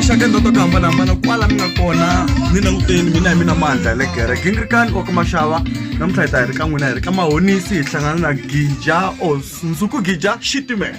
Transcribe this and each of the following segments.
maxaka ndzi ta ku hambanahambana kwala mi nga kona ni languteni mina hi mina mandla ya le gere gingirikani wa ka maxava namuntlha hi ta hi ri ka n'wina hi ri ka mahonisi hi hlangana na gija or nsuku gija xitimela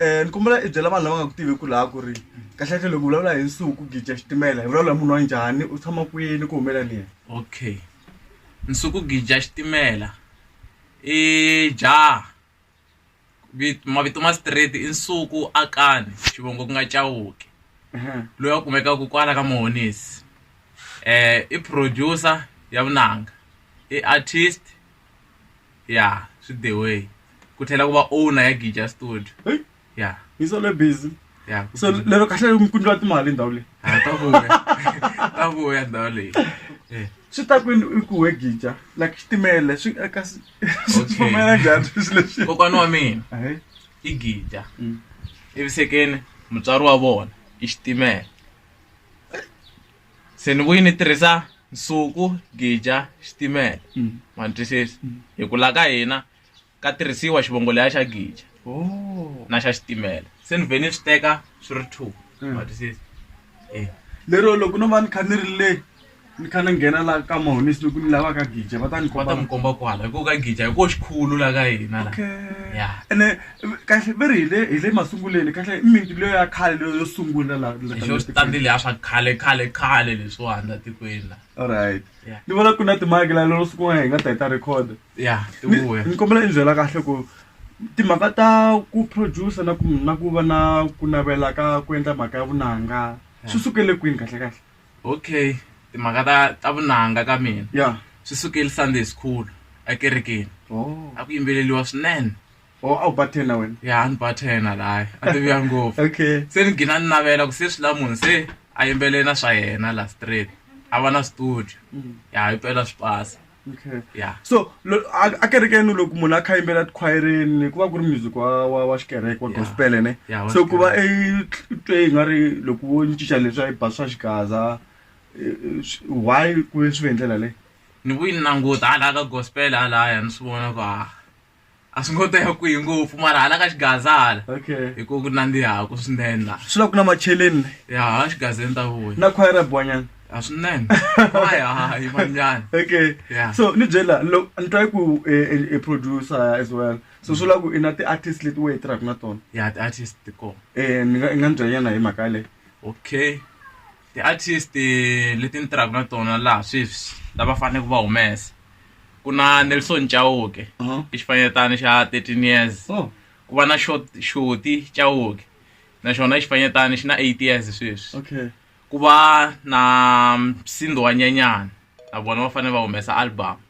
um ni kombela i byela vanhu lava nga ku tivi ku laha ku ri kahlekahle loko vulavula hi nsuku gija xitimela hi vulavula hi munhu wa njhani u tshama kwini ku humela ni yena okay nsuku gija xitimela i jaha mavito ma straight i nsuku akani xivongo ku nga cawuki loyi a kumekaka kwala ka mohonisi um i producer ya vunanga i artist ya swi the way ku tlhela ku va owner ya gija studio Hey, ya hi solo busy ya ku- so lero kahle mi kundliwa timali ndhawu leyi Ah, ta vuya ta vuya ndhawu leyi Eh, swi ta kwini i ku wegija like xitimele swi eka swi Okay. pfumela njhani swilo leswi kokwana wa mina Hey, i gija mm. evisekeni mutswari wa vona i xitimela se ni vuyi ni tirhisa nsuku gija xitimela mm. ma ni twisisa mm. hi ku la ka hina ka tirhisiwa xivongo leya xa gija oh. na xa xitimela se ni vhe ni swi teka swi ri two mm. ma twisisa e lero loko no va ni kha ni ri le ni kha ni nghena la ka mahonisi loko ni lava ka gija va ta ni va ta mi komba kwala hi ku ka gija hi ko xikhulu la ka hina la ya ene kahle va ri hi le hi le masunguleni kahle mimiti leyo ya khale leyo yo sungula la la- xo xi tandile ya swa khale khale khale leswiwani la tikweni la alright Yeah. ni vona ku na timaki la lero siku n'wana hi nga ta hi ta record ya Ni- tivuya ni kombela ni byela kahle ku timhaka ta ku producer na ku na ku va na ku navela ka ku endla mhaka ya vunanga swi sukele kwini kahle kahle okay timhaka ta ta vunanga ka mina ya swi sukeli sunday school ekerekeni oh a ku yimbeleliwa swinene or a wu ba ten na wena ya ni ba ten laha a tiviya ngopfu okay se ni gina ni navela ku se swi la munhu se a yimbelela na swa yena la straight a va na studio mm. ya yi pela swi pasa okay ya so a kerekeni loko munhu a kha yimbela tikhwayereni ku va ku ri music wa wa wa xikereke wa gospel ne so ku va i twe i nga ri loko wo ni cinca leswi a yi ba swa xigaza e, e, why ku ve swi ve hi ndlela leyi ni vuyi ni languta halaya ka gospel halaya ni swi vona ku ha ah, a swi ngo ta ya kwihi ngopfu mara hala ka xigaza hala okay hi ku ku nandzihaku swinene la swi lava ku na macheleni le ya hala xigazeni ta vuya na khwayera bwanyana a swinene aya hayi manyana okay Yeah. so ni byela lo ni twa ku e, e, e producer as well so swi lava ku i na ti-artist leti we hi tirhaka na tona ya ti-artist ti kona um ni nga ni nga ni byela nyana hi mhaka yaleyo okay Ti-artist leti ni tirhaka na tona laha sweswi lava faneleke va humesa ku na Nelson Chauke i xifanyetana xa thirteen years ku va na xo Shoti Chauke na xona i xifanyetana xi na eight years sweswi ku va na Msindo Wa Nyanyani na vona va fanele va humesa album.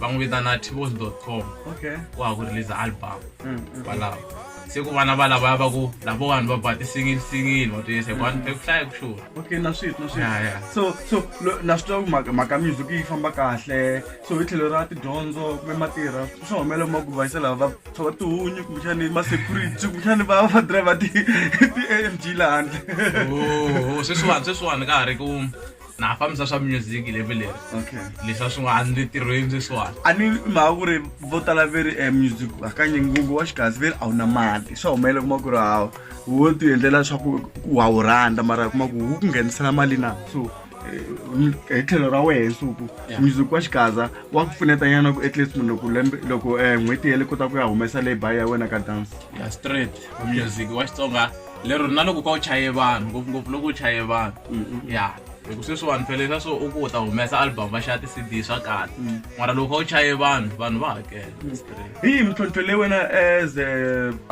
va n'wi vitana tibos dot com okay wa ha ku release album Mm, mm. kwalaho se ku vana va lavaya va ku lavo vanhu va ba ti-single single va ti yesa kwani eku hlaya ku xona okay na swit na swit Ya, ya. so so lo- na swi twa ku mhaka- mhaka music yi famba kahle so hi tlhelo ra tidyondzo kumbe matirha swa humelela ma ku vayisa lava va tshova tihunyi kumbexani ma-security kumbexani va va driver ti-amg lahandle Oh, sweswiwani sweswiwani ka ha ri ku na ha fambisa swa music lembe leri okay leswi a swi nga a ni le tirhweni sweswiwani a ni mhaka ku ri vo tala ve ri um music hakanye ngungu wa xigazi ve ri a wu na mali swa humelela kuma ku ri hawa wo ti endlela leswaku wa wu rhandza mara kuma ku wu ku nghenisela mali na so eh, m- hi tlhelo ra wehe nsuku Yeah. music wa xigaza wa ku pfuneta nyana ku at least munhu loko lembe loko um n'hweti yele kota ku ya humesa labour ya wena ka dance ya straight music wa xitsonga lero na loko ka u chaye vanhu ngopfungopfu loko u chaye vanhu mm-hmm. ya hi ku sweswiwani phelela swo u ku u ta humesa album va xava ti-cd swa kahle mm. mara loko u chaye vanhu vanhu va hakela mm. hi yi mintlhontlho leyi wena as a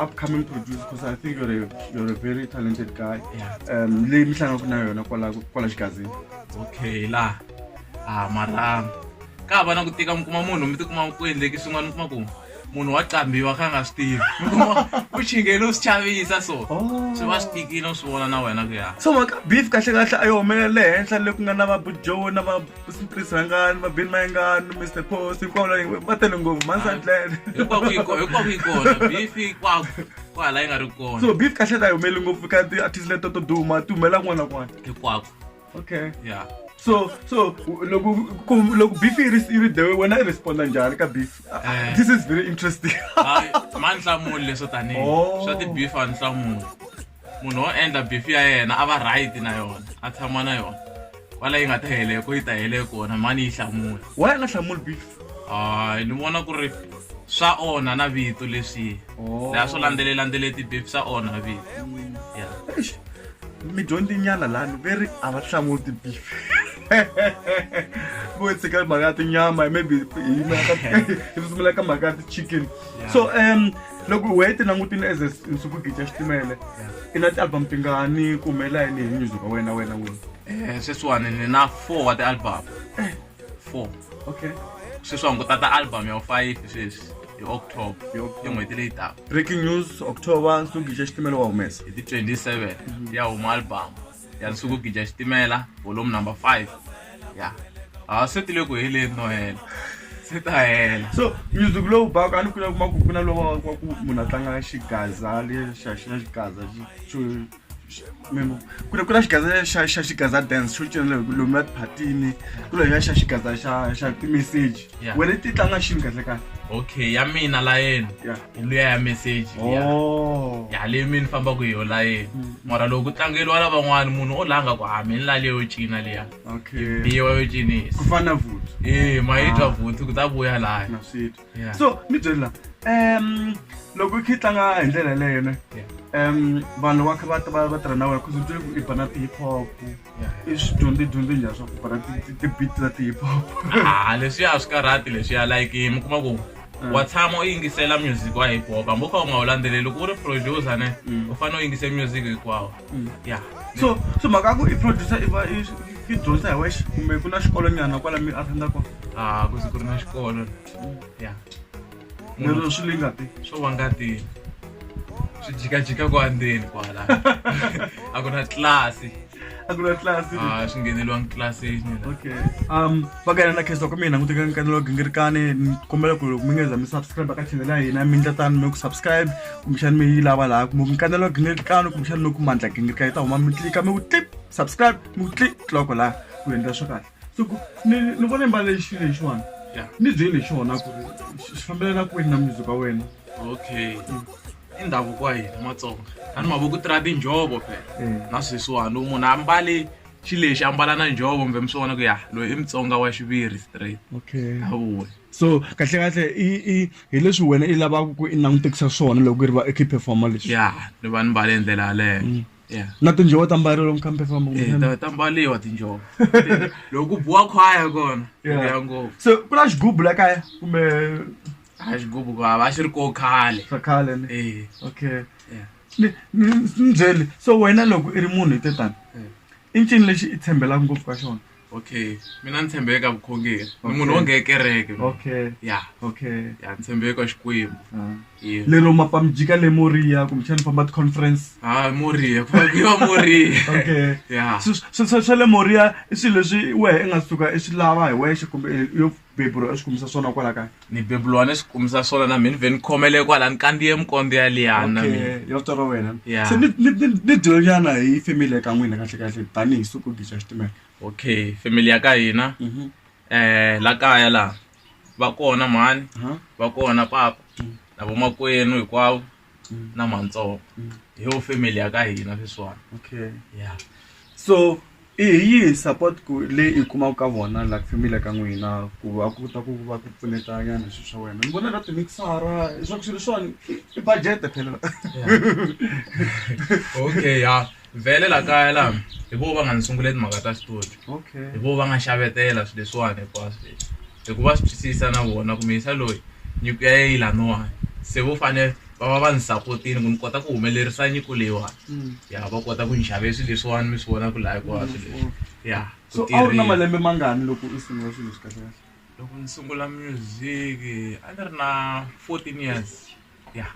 upcoming producer because i think you're a, you're a very talented guy um leyi mi hlangaku na yona kwala kwala xigazini okay la a ah, mara ka va na ku tika mi kuma munhu mi tikuma ku endleki swin'wana mi kuma ku munhu wa qambiwa kha nga swi tivi u xingele u swi chavisa so oh. swi va swi tikile u swi vona na wena ku ya so maka beef kahle kahle a yi humelela le henhla le ku nga na va bujoe na va chris rangani va bin mayengani mr post hinkwavo la va tele ngopfu mansandlele hinkwako yi kona beef kwako kwala yi nga ri kona so beef kahle a yi humeleli ngopfu ka ti-artist leto to duma ti humelela kun'wana na kun'wana hinkwako okay yeah so so loko ku loko beef yi ri yi ri dewe wena i responda njhani ka beef Eh. this is very interesting Hayi, ma ni hlamuli leswo tanihi Oh. swa ti-beef a ni hlamuli munhu wo endla beef ya yena a va right na yona a tshama na yona kwala yi nga ta hele ko yi ta hele kona mani yi hlamula why a nga hlamuli beef hayi ni vona ku ri swa onha na vito leswi Oh. laha swo landzelellandzele ti-beef swa onha vito ya Eish, midyondzinyana lani ve ri a va hlamuti bifi vo tshika mhaka ya tinyama maybe hi sungula ka mhaka ya ti-chicken so um loko wehe ti langutini as nsuku gica xitimele i na ti-album tingani ku humelela yini hi nyuzi ka wena wena wini um eh, sweswiwani ni na four wa ti-album eh. four okay sweswi va hunguta ta album ya five sweswi hi october i n'hweti leyi taka breaking news october nsuku gija xitimela wa humesa hi ti 27 mhm. ya huma album ya nsuku gija xitimela volume number five ya a swi tile ku heleni no hela swi ta hela so music lowu baka a ni kula kuma ku ku na lowa wa ku munhu a tlanga xigaza lexa xi na xigaza xo ku ri ku na xigaza xa xa xigaza dance xo cinela hi ku lomu ya tiphatini ku lo ya xa xigaza xa xa timeseji wena ti tlanga xini kahle kahle okay ya mina layeni hi luya ya meseji oh. ya leyi mi ni fambaka hi yo layeni mm. mara loko ku tlangeriwa lavan'wana munhu o langa ku hami ni lale yo cina liya biwa yo cinisa ku fana vuthu e ma yi twa ah. vuthu ku ta vuya laya so ni byeli la um loko i kha i tlanga hi ndlela yeleyo ne um vanhu loko va kha va ta va va tirha na wena bcause u twi i ba na ti-hip hop i swi dyondze dyondze njhani swa ku ba na ti-beat ta ti-hip hop a leswiya a swi karhati leswiya like mi kuma ku mm. wa tshama u yingisela music wa hip hop hambi u kha u nga wu landzeleli loko u ri producer ne mm. u fanele u yingise music hinkwawo Mm, ya so so mhaka ya ku i producer i va i i dyondzisa hi wexe kumbe ku na xikolo nyana kwala mi a thandza kona a ku ze ku ri na xikolo ya lero swi le ngati swo va ngati swi jikajika ku andzeni kwala a ku na tlilasi a ku na tlilasi a swi ngheneliwangi tlilasini okay um va ka yena na kheswa kumbe yi languteka nkanelo wa gingirikani ni kombela ku loko mi nga za mi subscribe ka channel ya hina mi ndla tani mi ku subscribe kumbexani mi yi lava laha kumbe nkanelo wa gingirikani kumbexani mi ku mandla gingirikani yi ta huma mi tlika mi ku tlip subscribe mi ku tli tloko laha ku endla swa kahle so ku ni ni vona i mbale xilo lexiwani Yeah. ni byeli hi xona ku ri xi xi fambelana kwini na music wa wena okay i ndhavuko wa hina matsonga a ni mavoko tirha tinjhovo phela Eh. na sweswiwani munhu a mbale xi lexi ambala na njhovo kumbe mi swi vona ku ya loyi i mutsonga wa xiviri straight okay awuwe so kahle kahle i i hi leswi wena i lavaka ku i langutekisa swona loko i ri va ekhiphe foma leswi ya ni va ni mbale hi ndlela yaleyo mm. ya na tinjhovo ta mbarelo mukhambe famba eh, ta mbaliwa tinjhovo loko ku buwa khwaya kona ya ngopfu so ku na xigubu la kaya kumbe a xigubu va va xi ri ko khale khale eh okay ni ni ni byele so wena loko i ri munhu hi te tani i ncini lexi i tshembelaka ngopfu ka xona okay mina ni tshembeke ka vukhongeri ni Okay. munhu wo nge kereke mina. okay ya okay ya ni tshembeke ka xikwembu Ah. Yeah. lero mapamijika le moriya kumbexani famba ti-conference ha moriya ku fakiwa moriya okay ya Swi- swi- swi- swa le moriya i swilo leswi wehe i nga suka i swi lava hi wexe kumbe i- yo bebulwa swi kumisa swona kwala kaya ni bebulwa ni swi kumisa swona na mina vhe ni khomele kwala ni kandiye mikondo ya liyana ya vito ra wena se ni dyelonyana hi family ya ka n'wina kahle kahle tanihi suku gixa xitimela okay family ya ka hina um la kaya laha va kona mhani va kona papa na vomakwenu hinkwavo na matsonga hi yo family ya ka hina sweswiwani okay ya so i hi yihi support ku leyi i kumaka ka vona la family ka n'wina ku va ku ta ku va ku pfuneta nyana swilo swa wena ni vona ka timixara swa ku swilo leswiwani i budget phela okay ya. vhele la kaya la hi vo va nga ni sungule timhaka ta xitori okay hi vo va nga xavetela swilo leswiwani hinkwaswo leswi hikuva swi twisisa na vona kumbe yisa loyi nyiko ya ye yi laniwani se vo fane va va va ni sapotini ku ni kota ku humelerisa nyiko leyiwani Mm. ya va kota ku ni xave swilo leswiwani mi swi vona ku laha hinkwaswo leswi Wonderful. ya ku so a wu ri na tirhile. malembe mangani loko u sungula swilo swi kahle loko ni sungula music a ni ri na 14 years ya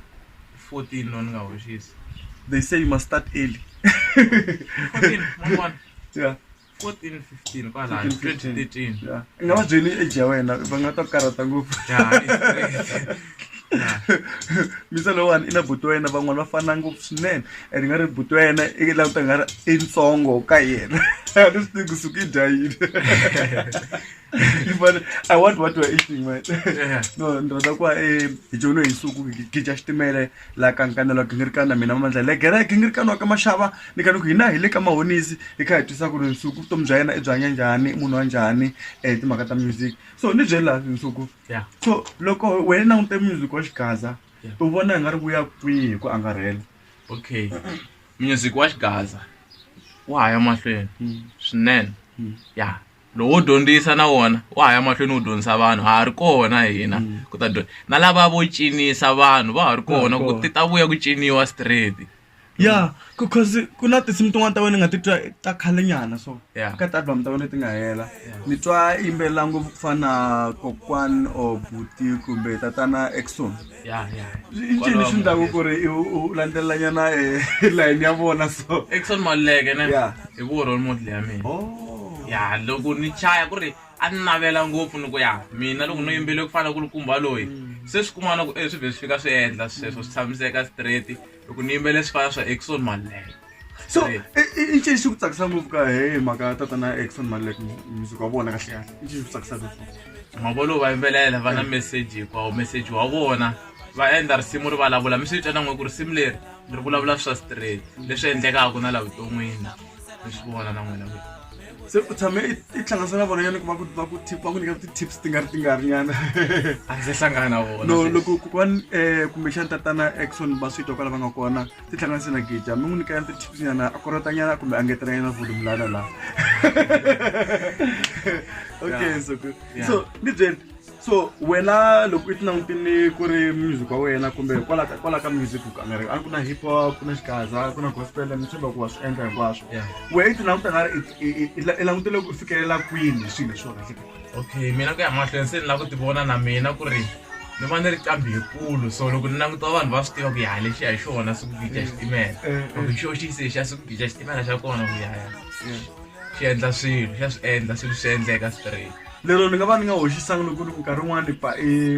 14 no ni nga hoxisi they say you must start early 14 mwana yeah 14 15 kwala 2013 yeah i nga va byeli age ya wena va nga ta karata ngopfu misa lowani i na buti wa yena van'wana va fana ngopfu swinene and nga ri buti wa yena i la ta nga ri i ntsongo ka yena a ni swi tivi kusuka i dya yini i want what you're eating man no ni rhandza ku va e hi jono hi suku hi dya xitimele la ka nkanelo ki ngi ri ka na mina mamandla le gere ki ngi ri ka nwa ka maxava ni ka ni ku hina hi le ka mahonisi hi kha hi twisa ku ri nsuku vutomi bya yena i byi hanya njhani i munhu wa njhani um timhaka ta music so ni byeli laha nsuku so loko wena langute music wa xigaza u vona hi nga ri vuya kwihi hi ku angarhela okay music wa xigaza wa ha ya mahlweni swinene ya lowu wo dyondzisa na wona wa ha ya mahlweni wu dyondzisa vanhu ha ha ri kona hina mm. ku ta dyondza na lava vo cinisa vanhu va ha ri kona ku ti ta vuya ku ciniwa straight ya because ku na tinsimu tin'wana ta wena ni nga titwa ta khale nyana so ka ti-album ta wena leti nga hela ni twa yimbelela ngopfu ku fana na kokwan or buti kumbe tatana exon ya ya i ncini leswi ndlaku ku ri u landzelelanyana eh, line ya vona so exon maluleke ne Yeah. hi ku role model ya mina Oh. ya loko ni chaya ku ri a ni navela ngopfu ni ku ya mina loko no yimbele ku fana ku ri kumba loyi se swi kumana ku eh, swi vhe swi fika swi endla sweswo swi tshamiseka straight loko ni yimbele swipala swa exon malek so i ncini xi ku tsakisa ngopfu ka hi mhaka ya tatana ya exon malek music wa vona kahle kahle i ncini xi ku tsakisaka mavolo va yimbelela va na message hinkwawo message wa vona va endla risimu ri vulavula mi swi twa na n'we ku risimu leri ri vulavula swa straight leswi endlekaka na la vuton'wini mi swi vona na n'wina se u tshame i i tihlanganisa na vona yani ku va ku va ku tip va ku nyika ti-tips ti nga ri ti nga ri nyana a ndzi se hlangana na vona no sweswi. loko kokwani um kumbexani tatana exon va swi twa kwala va nga kona ti hlanganise na gija mi n'wi nyika yani ti-tips nyana a korota nyana kumbe a ngetela nyana volume lana laha okay Yeah. so good Yeah. so ni byeli so wena loko i ti langutini ku ri music wa wena kumbe hikwalaho ka hikwalaho ka music ku nga ri a ku na hip hop ku na xigaza ku na gospel ni tshemba ku wa swi endla hinkwaswo wehe i ti languta nga ri i langutele ku fikelela kwini swilo leswi wa kahleka okay mina ku ya mahlweni se ni lava ku ti vona na mina ku ri ni va ni ri qambi hikulu so loko ni languta vanhu va swi tiva ku yaha lexiya hi xona swi ku gica xitimela eh, eh, loko eh. xo xi se xa swi ku gica xitimela xa kona ku yaya xi endla swilo xa swi endla swilo swi endleka straight lero ni nga va ni nga hoxisanga loko ni ku nkarhi wun'wani ba i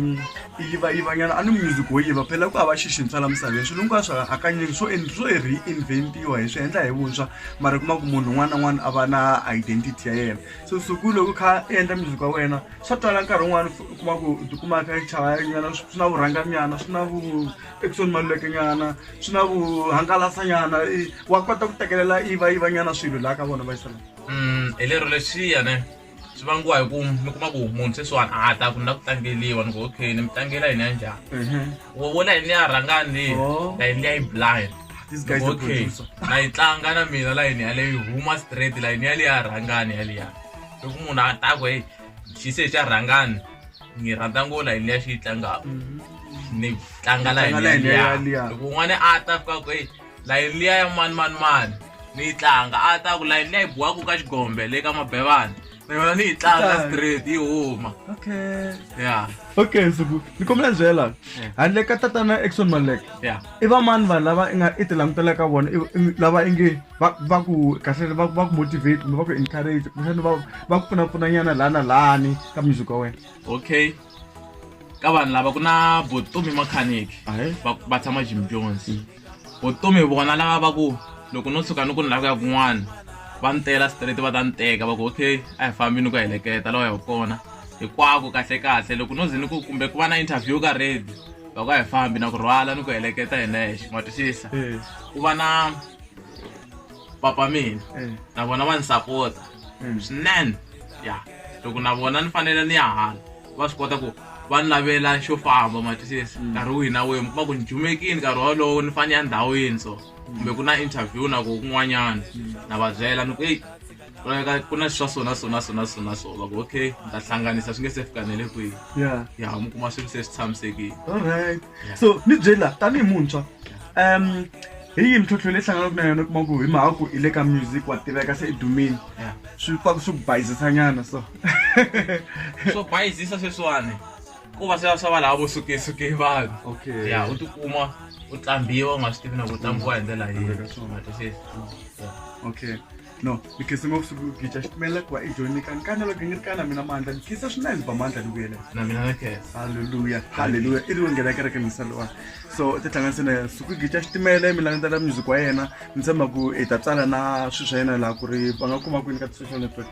i yivayivanyana a ni music wo yiva phela ku hava xixintshwa la misaveni swilo hinkwaswo hakanyingi swo swo reinvent-iwa hi swi endla hi vuntshwa mara u kuma ku munhu un'wana na un'wana a va na identity ya yena so suku loko kha i endla music wa wena swa twala nkarhi wun'wani u kuma ku u tikuma kha i chayanyana swi na vurhanganyana swi na vu exon malulekenyana swi na vuhangalasanyana wa kota ku tekelela yivayivanyana swilo laha ka vona va yi sala hi lero leswiyane swi vangiwa hi ku mi kuma ku munhu sweswiwani a ta ku na ku tlangeliwa ni ku okay ni mi tlangela yini ya njhani mhm. wo wo layini liya rhangani leyi oh. layini liya yi blind okay na yi tlanga na mina layini yaleyo yi huma straight layini yaliya rhangani yaliya loko munhu a ta ku heyi xi se xa rhangani ni rhandza ngo layini liya xi yi tlangaka mhm. ni tlanga layini yaliya loko un'wana a ta fika ku heyi layeni liya ya mani mani mani ni yi tlanga a ta ku layeni liya yi biwaka ka xigombe le ka mabevana na yona ni yi tlanga straight yi huma okay ya okay nsuku ni kombela ni byela handle ka tatana exon malek ya i vamani vanhu lava i nga i ti langutela ka vona i- i- lava i nge va va ku kahle va va ku motivate kumbe va ku encourage kumbexani va va ku pfunapfunanyana laha na lahani ka music wa wena okay ka vanhu lava ku na botomi makhaniki Ahe. va va tshama jim jones vutomi hi vona lava va ku loko no tshuka ni ku ni lava ku ya kun'wana va ni tela straight va ta ni teka va ku okay a hi fambi ni ku heleketa lawa ya kona hinkwako kahle kahle loko no ze ni ku kumbe ku va na interview ka redi va ku a hi fambi na ku rhwala ni ku heleketa hi nexe ma twisisa eh. ku va na papa mina eh. na vona va ni sapota eh. swinene ya loko na vona ni fanele ni ya hala va swi kota ku va ni lavela xo famba ma twisisa mm. nkarhi wihi na wihi mi kuma ku ni jumekini nkarhi wolowo ni fanele ya ndhawini so kumbe ku na interview na ku kun'wanyana mm. na va byela ni ku eyi ka ku na swa sona sona sona sona so va ku okay ni ta hlanganisa swi nge se fikanele kwihi ya mi kuma swilo se swi tshamisekile allright so ni byela tanihi muntshwa um hi yi mintlhontlho leyi hlanganaka na yona kuma ku hi mhaka ku i le ka music wa tiveka se i dumini swi pfa ku swi ku bayizisanyana so swo bayizisa sweswiwani ku va swa swa va lava vo sukesuke vanhu okay ya u tikuma u tlambiwa u nga swi tivi na ku tlambiwa hi ndlela yihi Veka swona. Nga twisisi? Yeah. okay no ni khese ngopfu siku gicha xitimela ku va i joni kani kana loko ni ri kana mina mandla ni khisa swinene ba mandla ni vuyele na mina na khesa halleluya halleluya i ri wo nghena kereke misa lowa so ti hlanganise na yena siku gicha xitimela mi langutela music wa yena ni tshemba ku i ta tsala na swilo swa yena laha ku ri va nga kuma kwini ka ti-social network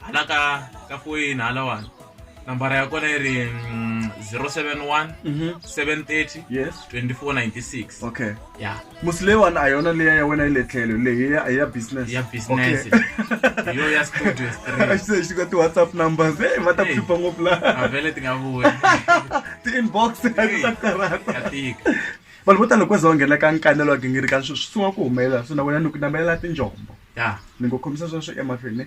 hala ka ka foyini halawani nambara ya kona yi ri mm, 071 Mhm. 730 yes 2496 okay ya musi leyiwani a yona leya ya wena yi le tlhelo leyi ya ya business ya business Okay. yo ya studio straight se xi ka ti-whatsapp numbers e va ta ku Hey. hlupha ngopfu la avele ti nga vuyi ti-inbox ti ta ya karhata tika vanhu vo tala loko za va nghena ka nkanelo wa gingirika swi swi sungula ku humelela so na wena ni ku namelela tinjombo ya ni ngo khomisa sweswo emahlweni